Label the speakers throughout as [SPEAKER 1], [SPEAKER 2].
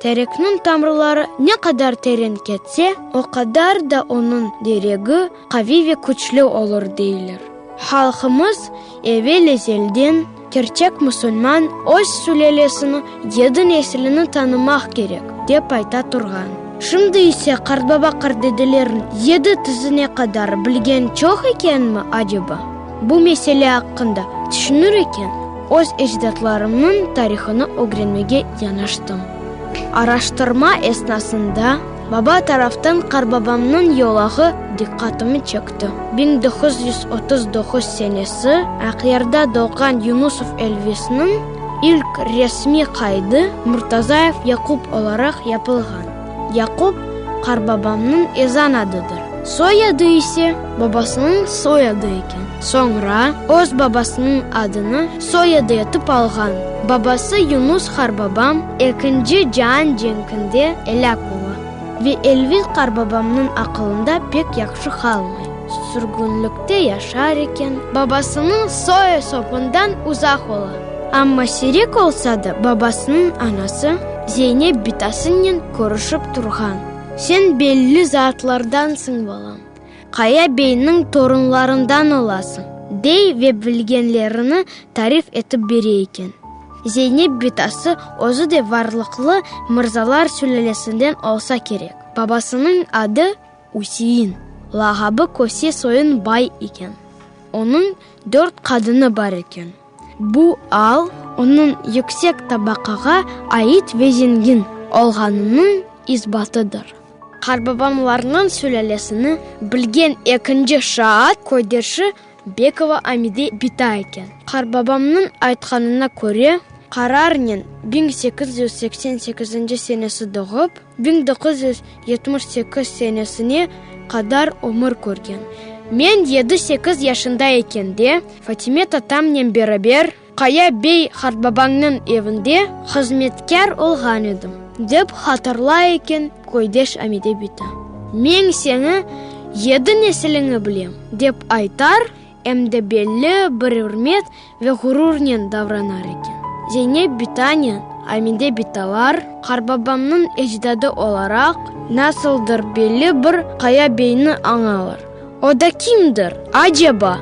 [SPEAKER 1] Terekniñ tamrıları ne qadar teren ketse, o qadar da onıñ deregi qaviy ve küçlü olur, deyler. Halqımız evel-ezelden, kerçek musulman öz sülelesini, yedi neslini tanımaq kerek, dep ayta turğan. Şimdi ise qartbaba-qartdedelerniñ yedi tizine qadar bilgen çoq ekenmi aceba? Bu mesele aqqında tüşünür eken, öz ecdatlarımnıñ tarihını ögrenmege yanaştım. Araştırma esnasında baba taraftan qarbabamnıñ yolağı diqqatımı çekti. Biñ doquz yüz otuz doquz senesi Aqyarda doğğan Yunusov Elvisniñ ilk resmiy qaydı Murtazayev Yaqup olaraq yapılğan. Yaqub, qarbabamnıñ ezan adıdır. Soy adı ise babasınıñ soy adı eken. Soñra öz babasınıñ adını soy adı etip alğan. Babası Yunus qarbabam Ekinci caan cenkinde elâk ola ve Elviz qarbabamnıñ aqılında pek yahşı qalmay. Sürgünlikte yaşar eken, babasınıñ soy-esopından uzaq ola. Amma sirek olsa da babasınıñ anası Zeynep bitasınnen körüşip turğan. Sen belli zatlardansıñ, balam, Qaya beyniñ torunlarından olasıñ, dey ve bilgenlerini tarif etip bere eken. Zeynep bitası özü de varlıqlı mırzalar sülâlesinden olsa kerek. Babasınıñ adı Üsein, lağabı Köse soyun bay eken. Onıñ dört qadını bar eken. Bu al onıñ yüksek tabaqağa ait ve zengin olğanınıñ isbatıdır. Qarbabamlarnıñ sülâlesini bilgen ekinci şaat köydeşi Bekova Amide bita eken. Qarbabamnıñ aytqanına köre, qararnen biñ sekiz yüz seksen sekizinci senesi doğıp, biñ doquz yüz yetmiş sekiz senesine qadar ömür körgen. Men yedi-sekiz yaşında ekende, Fatime tatamnen beraber, Qaya bey qartbabañnıñ evinde hızmetkâr olğan edim, dep hatırlay eken köydeş Amide biti. Meñ seni yedi nesiliñi bilem, dep aytar, em de belli bir ürmet ve ğururnen davranar eken. Zeynep bitanen Amide bitalar, qartbabamnıñ ecdadı olaraq, nasıldır belli bir Qaya beyni añalar. O da kimdir, aceba?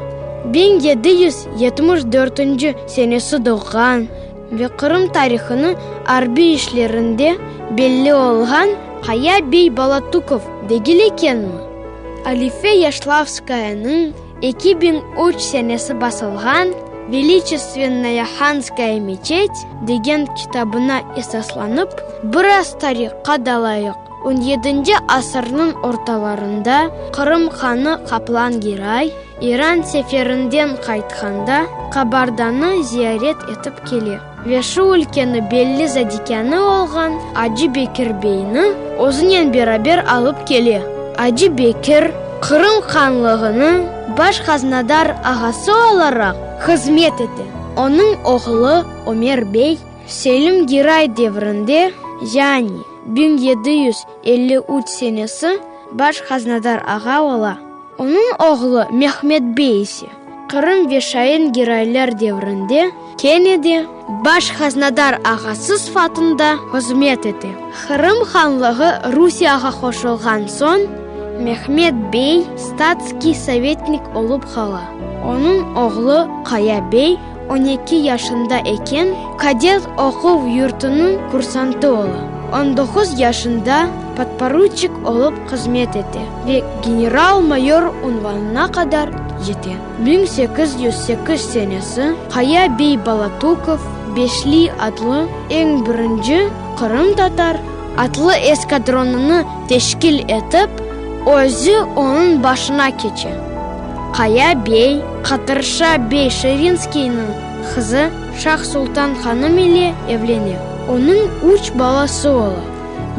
[SPEAKER 1] Biñ yedi yüz yetmiş dörtünci senesi doğğan ve Qırım tarihını arbiy işlerinde belli olğan Qaya bey Balatukov degil ekenmi? Alife Yaşlavskayanıñ eki biñ üç senesi basılğan Veliçestennoya Hanskaya meçet degen kitabına esaslanıp, biraz tarihqa dalayıq. On yedinci asırnıñ ortalarında Qırım hanı Qaplan Giray, İran seferinden qaytqanda, Qabardanı ziyaret etip kele ve şu ülkeni belli zadikânı olğan Acı Bekir beyni özünen beraber alıp kele. Acı Bekir, Qırım hanlığınıñ baş haznadar ağası olaraq hızmet ete. Onıñ oğlu Ömer bey Selim Giray devrinde, yani. Biñ yedi yüz elli üç senesi baş haznadar ağa ola. Onıñ oğlu Mehmet bey ise, Qırım ve Şain giraylar devrinde, kene de baş haznadar ağası sıfatında hızmet ete. Qırım hanlığı Rusiyağa qoşulğan soñ, Mehmet bey statskiy sovetnik olıp qala. Onıñ oğlu Qaya bey, On eki yaşında eken kadet oquv yurtunıñ kursantı ola. On doquz yaşında podporuçik olıp hızmet ete ve general-mayor unvanına qadar yete. Biñ sekiz yüz sekiz senesi Qaya bey Balatukov Beşli adlı eñ birinci qırımtatar atlı eskadronını teşkil etip, özü onıñ başına keçe. Qaya bey, Qatırşa bey Şirinskiyniñ qızı Şah-Sultan hanım ile evlene. Onıñ üç balası ola,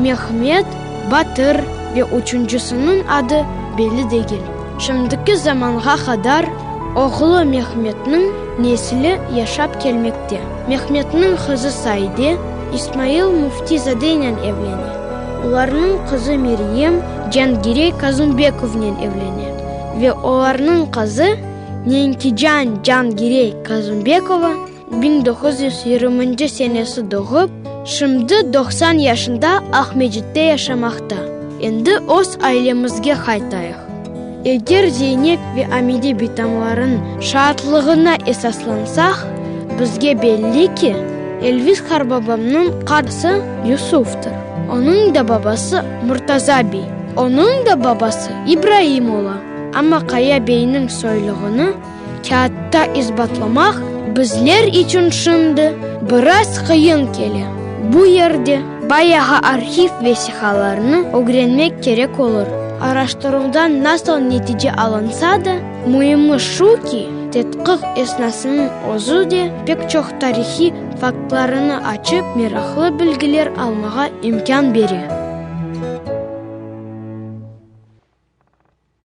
[SPEAKER 1] Mehmet, Batır ve üçüncüsiniñ adı belli degil. Şimdiki zamanğa qadar oğlu Mehmetniñ nesli yaşap kelmekte. Mehmetniñ qızı Saide, İsmail Müftizadenen evlene. Olarnıñ qızı Meryem, Cangirey Kazımbekovnen evlene. ve olarnıñ qızı Nenkican Cangirey Kazumbekova, biñ doquz yüz yirminci senesi doğıp, şimdi doqsan yaşında Aqmecitte yaşamaqta. Endi öz ailemizge qaytayıq. Eger Zeynep ve Amide bitamların şaatlığına esaslansaq, bizge belli ki, Elvis qarbabamnıñ qardaşı Yusufdır, onıñ da babası Murtaza biy. Onıñ da babası İbraim ola. Amma Qaya beyniñ soylığını kâğıtta isbatlamaq bizler içün şimdi biraz qıyın kele. Bu yerde bayağı arhiv vesiqalarını ögrenmek kerek olur. Araştıruvdan nasıl netice alınsa da, müimi şu ki, tedqiq esnasınıñ özü de pek çoq tarihiy Faktlarını açıp, meraqlı bilgiler almağa imkân bere.